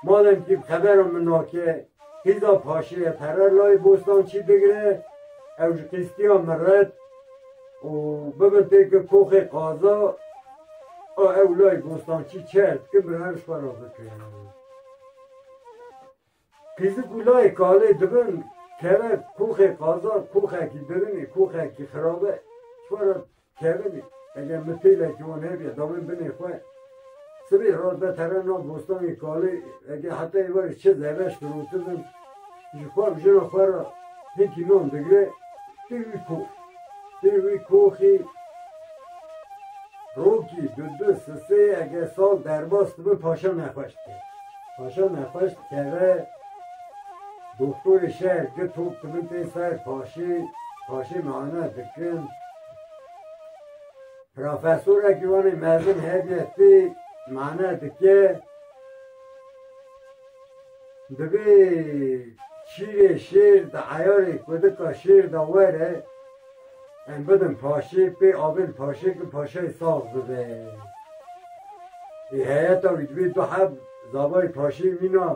Madem ki xebera min na ke hîza paşiye pere layê Bostançî bigire, ew ji qîstiya min red û bibin tê ki koxê qaza a ew layê Bostançî çerd dikim bi her ji xwe re bikim. Kêzik ku layê kalê dibin keve koxê qazan koxekî birin e, koxekî xirab e, çiwa re kevin e. Eger mitêlekî wan hebe dawên binê xwe sibê re de tere nav bostanê kalê eger heta êvarê çi zereş firotin ji xwe û jina xwe re hêkî nan digre tê wî kox tê wî koxê rokî du du sisê eger sal derbas dibin paşa nexweş dike. Paşa me xweş dikeve. Doktorê şer di top di min tê ser paşê paşê me ana dikin. Profesorekî wanê mezin hevye tê me ana dike. Divê şîrê şêr di eyarê ku dika şêr de were. Em bidin paşê pê avêl paşê ki paşayê saz bibe. Ê heyeta wî divê du heb zabayê paşê mîna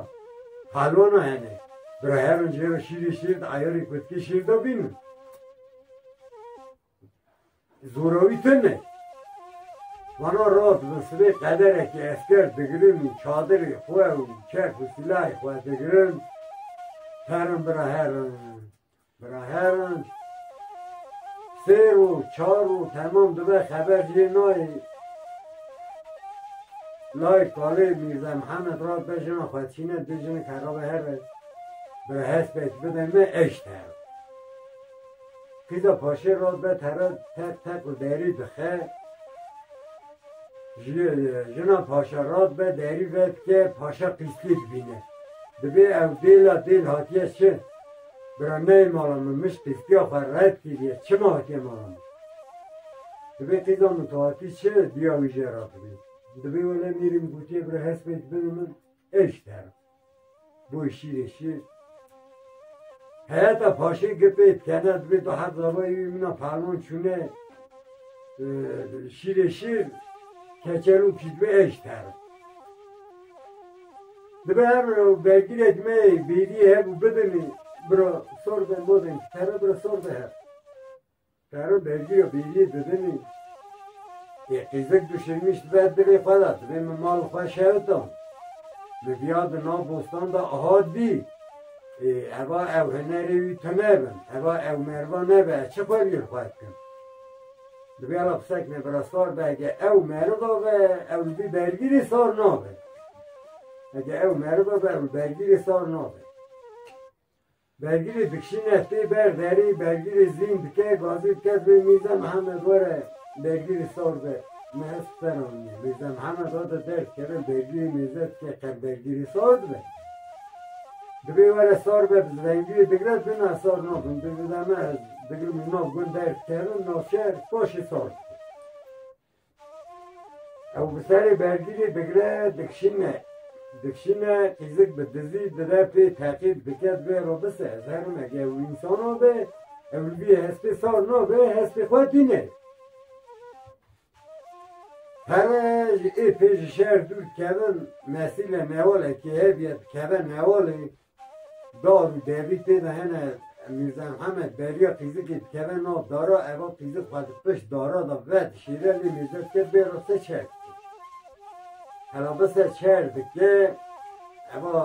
pelwana hene. Bira herin jê re şîrê şêr de eyarê kutkê şêr de bînin. Zorawî tune. Vana rast bin sibê qederekê esker digirin û çadirê xwe û çek û silahê xwe digirin herin bira herin. Bira heran sê roj çar roj temam dibe xeber jê nayê. Lay kalê Mîrza Mihemed ra be jina xwe çîne du jinik herabe here. Bira hespek bide me eşt her. Kîza paşê ra be tere tek tek û derî dixe. Jina paşa ra be derî vedike paşa qîslî dibîne. Dibê ew dêla dêl hatiye şi. Birandeyê mala min mij tirkiya xwe red kiriye, çima hatiye mala min? Divê tu zan tu hatî çi duya wî jê re bibî. Divê wele mîrî min gotiye bira hespê dibin min ê ji te re. Boy şîrê şîr. Heyeta paşê gipê dikene divê tu her zavayê wî min a pelwan çûne şîrê şîr keçerû kî divê ê ji te re. Dibe her bira û vegirêk me yê bêrî hev û bibimî bira sor be modên ji pere bira sor be hev. Pere vegîra bêrîyê bibimî yê qîzik du şirmîş dibe dilê xwe de dibê min mali xwe şewita. Min viya di nav bostan de ahat bî ê eva ew hinerê wî tune bin, eva ew merva nebe ez çi xwe bîr xwe dikim. Divê ra pisekine bira sar be ege ew meriva be ew li bî bergîrê sar nabe. Ege ew meriva be ew li bergîrê sar nabe. Bergîrê dikişîne tê ber derê bergîrê zîn dike gazê dike divê Mîrza Mihemed were bergîrê sar be. Me ez seranî Mîrza Mihemed hate der dikeve bergîrê mêze dike qer bergîrê sar dibe. Divê were sar be bi zivengîrê digre dina sar nabin. Divê me ez Digirim û nav gund derg ker û navşehir paşê saz dike. Ew bi serê bergîrê digre dikişîne. Dikişîne kîzik bi dizî dire pê teqîb dike divê re bise. Ez herim ege ew însanan be ew li vî hespê sar nabe hespê xwe tîne. Pere ji ê pê ji şer dûr dikevin mesîle newalekê hev ye dikeve newalê. Dar û derî tê de hene. Mîrza Mihemed beriya pîzikê dikeve nav dara. Eva pîzik xwe di pişt dara de vedişîre lê Mîrza dike bêro te çer dikî. Hela bise çer dike eva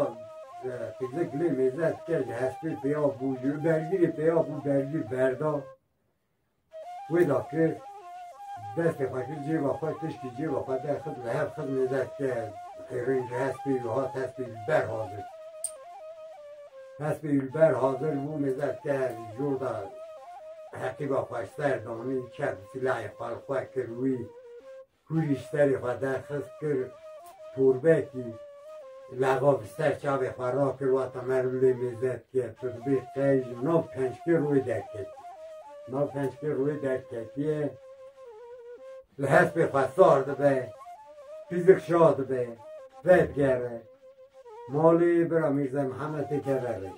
pîzik lê Mîrza dike ji hespê pêya bû ji û bergîrê pêya bû bergîr berda. Wê da kir, destê xwe kir cêba xwe, piştî cêba xwe derxist, li hev xist nêzerke qêrên ji hespê wî hat, hespê wî li ber hazir. Hespê wî li ber hazir bû, nêzerke li jor de heqîba xwe ji ser danî, çep silahê xwe li xwe kir wî Kurî ji serê xwe derxist, kir turbekî, leva bi ser çavê xwe rakir, wata me li lê mêze dike, tu dibê qey ji nav pençkê rûyê derketî. Nav pençkê rûyê derketiye, li hespê xwe sar dibe, pîzik şa dibe, vedigerre. Malê bira Mîrza Mihemetê keve rê.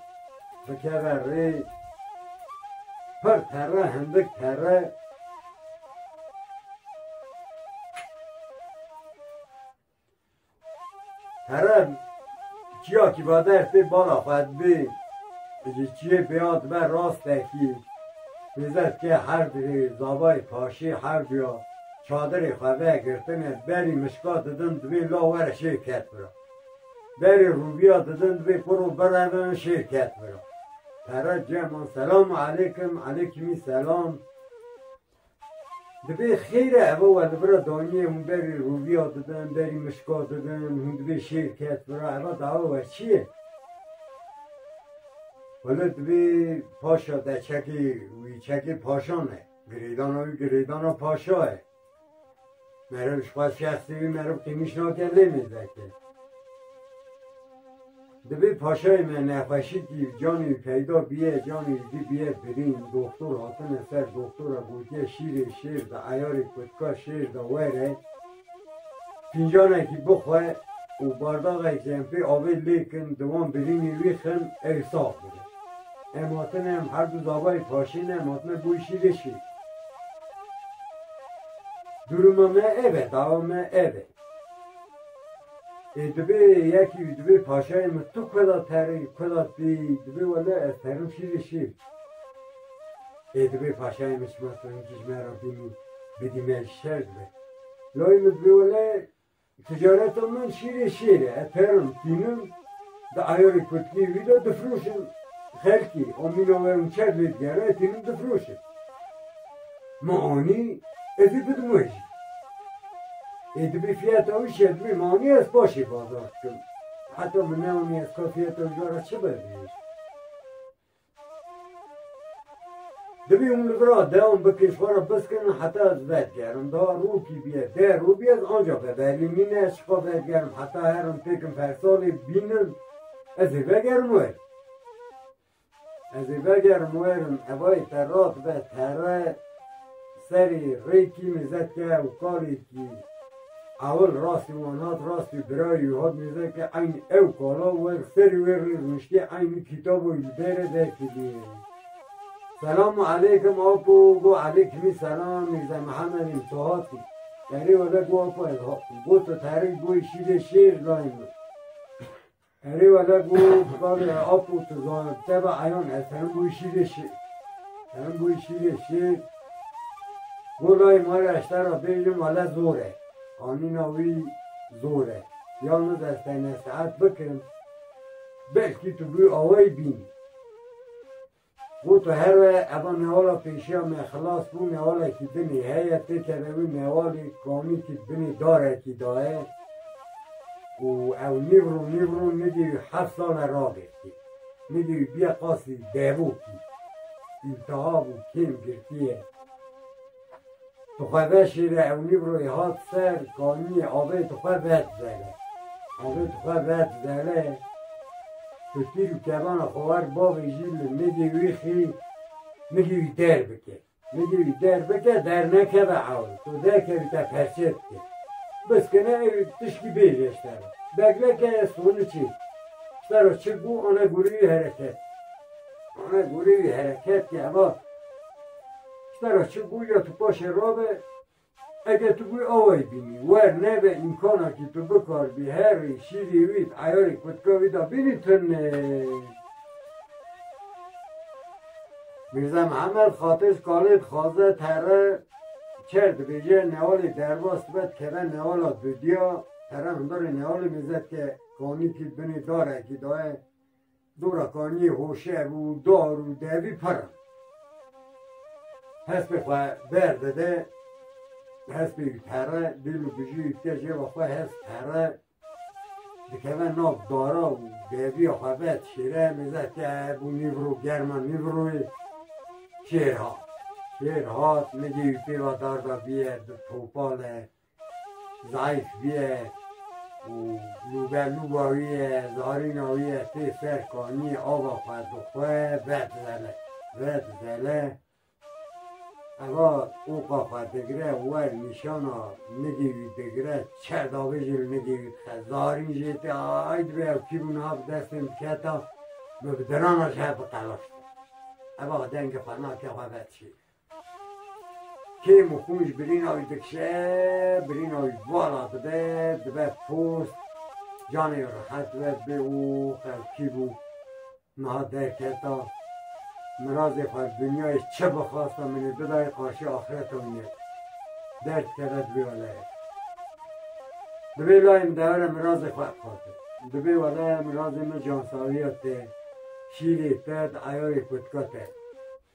Bikeve rê pir terre hindik terre terre çiya kî va dersê bala xwe dibê ji çiyê pêya dibe rastekî pêzet ke her dirê zabayê paşê her duya Çadirê xwe vegirtine berî mişka didin divê la were şêr ket bira. Berî rûbiya didin divê pir û birevin şêr ket bira. Pere cem an selamu eleykim, eleykimî selam. Divê xêre eve we li bira daniyê hûn berî rûbiya didin, berî mişka didin, hûn divê şêr ket bira, eva dawa we çi ye? Wele divê paşa de çekê wî çekê paşan e. Girêdana wî girêdana paşa ye. Meriv ji xwe şexsî wî meriv qîmîş nake lê mêzeke. Divê paşayê me nexweşîkî canê wî peyda bîye, canê wî jî bîye birîn. Doxtor hatine ser doxtor e gotiye şîrê şêr de eyarê kutka şêr de were. Fincanekî bixwe û bardaxekî em pê avê lêkin di wan birînî wî xin ew sax bibe. Em hatine em her du zabayê paşîne em hatine bo îşîrê şîr. Duruma me ev e dawa me ev e. Ê dibê yekî wî dibê paşayê min tu kuda terî kuda tî dibê wele ez terim şîrê şîr. Ê dibê paşayê min çima tuninkî ji me re bînî bidî me ji şer dibe. Layê min dibê wele ticareta min şîrê şêr e. Ez pêrin tînim di ayarê kutkî wî de difroşim xelkî. A mîna we min çer lê digere ez tînim difroşim. Min anî ez ê bidim we jî. Ê dibê fiyata wî şer dibê min anî ez paşê bazar dikim. Heta min neanî ez ka fiyata wî re çi be bê. Divê hûn li vir a dewan bikin xwe re biskinin heta ez vedigerim. Da rokî bîye, deh roj bîye ez anca veberîm. Mîne ez şifa vedigerim heta herim têkim fersalê bînim ez ê vegerim werin. Ez ê vegerim werin hevayê te rast be, tere, serê, rê kîmê zed ke û kalê kî Ewil rastî wan hat rastî birayî û hat nîzan ke eynî ew kala wer serî wê rê rûniştî eynî kîtabo yî li bêrê derkî bîyê. Selamu eleykim Apo go Eleykîmî selam Mîrze Mihemed îm tu hatî? Erê wele go Apo ez hatim. Go tu terik bûyî şîvê şêr layê min. Erê wele ku bi bavê ap û tizan teva eyan e serin bûyî şîrê şêr. Serin bûyî şîrê şêr bo layê ma re eşter ra bêjin wele zor e. Anîna wî zor e. Ya min ez te nesihet bikim belkî tu bûyî awayî bînî. Bo tu her we eva newala pêşiya me xilas bû newalekî binê heye têkeve wî newalî komîkî binê darekî daye û ew nîvro nîvro nidî wî heft sale ragirtî nidî wî bîye qasî devokî îltihabû kêm girtîye. Di xwebeşê de ew nîvroyê hat ser, kanîyê avê tu xwe vedizere. Avê tu xwe vedizere, tu tîr û kevana xwe wer bavê jî li nigê wî xî, nigê wî derbike. Nigê wî derbike, dernekeve ew, tu derkevî te perçe dike. Biskine ew tişkî bêje ji te re. Begleke ye soniçê. Ji te re çi bû, ane gorî wî hereket. Ane gorî wî hereket ke eva. Ji ber a çi bû ya tu paşê rabe, ege tu bûyî awayî bînî, wer nebe îmkana kî tu bikaribî herî şîrî wî di eyarê kutka wî de bînî tune. Mîrza Mihemed xatir ji kalê dixwaze terre çer dibêje, newalê derbas dibe dikeve newala dudiya, terre hundirê newalê mêze dike, kanîkî binê darekî de ye. Dora Kaniyê hoşev û dar û devî pir in. Hespê xwe berdide, hespê wî pere, dîl û bijî wî dike cêva xwe, hesp pere, dikeve nav dara û deviya xwe vet şêre, nêze ke bû nîvro, germa nîvroyê, şêr hat. Şêr hat, nigê wî pêva darda bîye, di topale, Zayîf bîye û lûbelû bawîye, zarîna wî ye tê ser kanî ava xwe bi xwe vedizene, vedizene. Eva oka xwe digire wer nîşana nigê wî digire çerdabê jî li nigê wî dixe. Zarîn jê tê ay dibe ew kî bû niha bi destên diketa min bi dirana ji hev biqelixîne. Eva dengê xwe nake xwe vedişîne. Kêm û qûnc birîna wî dikişe, birîna wî vala dibe, dibe post, canê wî rehet be, bê û qelkî bû. Niha derketa. Mirazê xwe li dinyayê çi bixwasta min ê bidayê qarşî axireta wî ne. Derd keve di vê welaya. Di vê layê min dewere mirazê xwe dixwaze. Di vê welaya mirazê min cansawîya te, şîrê te, di eyarê kotika te.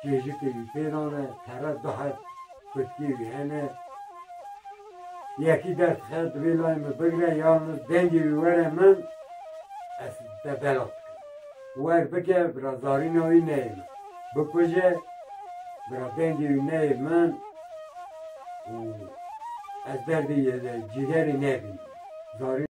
Çêjikê wî tê nan e, pere du heb kutkî wî hene. Yekî derdixe divê layê min bigre yalni dengê wî were min ez te belav dikim. Wer bike bira zarîna wî neyê min. Bikuje bira dengê wî neyê min û ez derdê yê cîgerê nebînim. Zarîn.